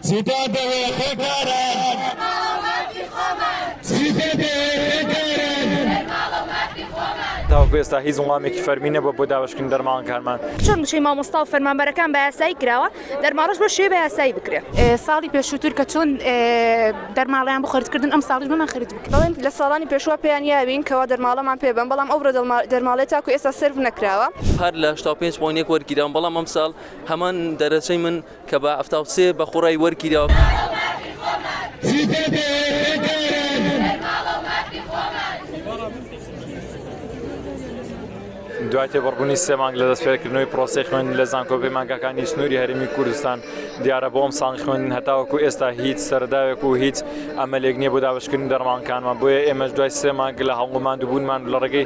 چی پێ دەوێ خوێندکاران؟ بنەماڵە و مافی خۆمان. چی پێ دەوێ خوێندکاران؟ بنەماڵە و مافی خۆمان. تاوەکو ئێستا هیچ وڵامێکی فەرمی نەبووە بۆ دابەشکردنی دەرماڵەکانمان. چۆن موچەی مامۆستا و فەرمانبەرەکان بە یاسایی کراوە، دەرماڵەش بەو شێوەیە بە یاسایی بکرێ. ساڵی پێشووتر کە چۆن دەرماڵەیان بۆ خەرج کردن، ئەمساڵیش بۆمان خەرج بکرێ. دەڵێن لە ساڵانی پێشووە پێیان یاوین کەوا دەرماڵەمان پێ بەن، بەڵام ئەو بڕە دەرماڵەیە تاکو ئێستا سێرڤ نەکراوە. هەر لە هەشتا و پێنج پۆینت یەک وەرگیراون، بەڵام ئەمساڵ هەمان دەرەجەی من. کە بە حەفتا و سێ بە خوڕای وەرگیراوە. دوای تێپەڕبوونی سێ مانگ لە دەستپێکردنەوەی پرۆسەی خوێندن لە زانکۆ و پەیمانگاکانی سنووری هەرێمی کوردستان، دیارە بۆ ئەمساڵی خوێندن هەتاوەکو ئێستا هیچ سەرەداوێک و هیچ ئەمەلێک نییە بۆ دابەشکردنی دەرمانگەکانمان، بۆیە ئێمەش دوای سێ مانگ لە هەڵمەت و ماندووبوونمان لە ڕێگەی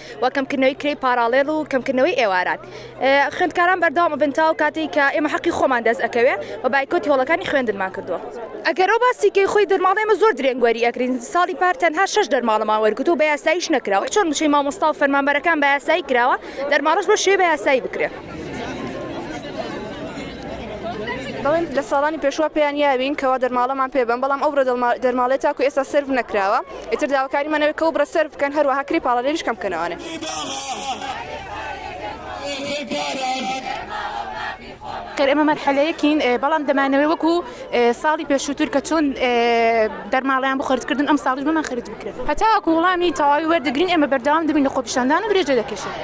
و کەمکردنەوەی کرێی پاراڵێڵ و کەمکردنەوەی ئێواران خوێندکاران بەردەوام ئەبن تاو کاتێک کە ئێمە حەقی خۆمان دەست ئەکەوێ و بایکۆتی هۆڵەکانی خوێندنمان کردووە. ئەگەر ئەو باسی کەی خۆی دەرماڵ ئێمە زۆر درێنگ وەری ئەگرین ساڵی پار تەنها شەش دەرماڵمان وەرگرت و بەیاساییش نەکرا وەک چۆن موچەی مامۆستا و فەرمانبەرەکان بەیاسایی کراوە دەرماڵەش بەو شێوەیە بەیاسایی بکرێ. دەڵێن لە ساڵانی پێشوە پێیان یابین کەوا دەرماڵەمان پێ بەن بەڵام ئەو دەرماڵەیە تاکو ئێستا سێرڤ نەکراوە. ئیتر داواکاریمان ئەوەیە کە ئەو بڕە سەرف بکەن، هەروەها کرێی پاڵەوێریش کەم بکەنەوانێ. خێر ئێمە مەرحەلەیەکین بەڵام دەمانەوێ وەکو ساڵی پێشووتر کە چۆن دەرماڵەیان بۆ خەرج کردن ئەم ساڵیش بۆمان خەرج بکرێ. هەتاوەکو وڵامی تەواوی وەردەگرین ئێمە بەردەوام دەبین لە خۆپیشاندان و درێژە دەکێشین.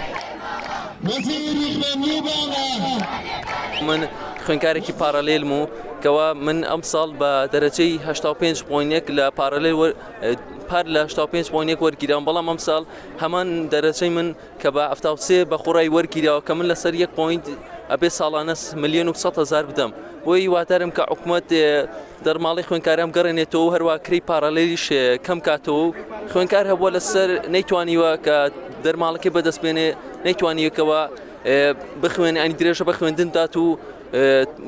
من خوێندکارێکی پاڕالێلم و کەوا من ئەم ساڵ بە دەرەجەی 85 پۆینێک لە پارەلێ پار لە 85 پۆینێک وەرگیران بەڵام ئەم ساڵ هەمان دەرەجەی من کە بە ئەفتاوسێ بە خۆڕای وەرگیراوە کە من لەسەر یەک پوینت ئەبێ ساڵانە ملیۆن و هزار بدەم بۆی وادارم کە حکوومەت دەرماڵی خوێنکارم گەڕێنێتەوە هەروە کری پارالێلیش کەم کاتەوە خوێنکار هەبووە لەسەر نەیتوانیوە کە دەرماڵەکەی بەدەستبێنێ نەیتوانیەکەوە بخوێنێ ئەنی درێژە بە خوێندن دات و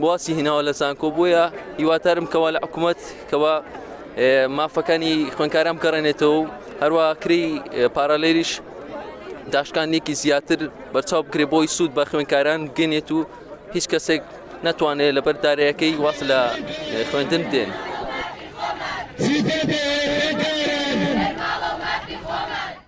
واسی هیناوە لە زانکۆ بۆیە هیوادارم کەوا لە حکوومەت کەوا مافەکانی خوێنکاران بگەڕێنێتەوە و هەروە کری پارالێریش داشکانێکی زیاتر بەرچاو بکرێ بۆی سوود بە خوێنکاران بگەنێت و هیچ کەسێک ناتوانێت لە بەردارەکەی واز لە خوێندن دێن.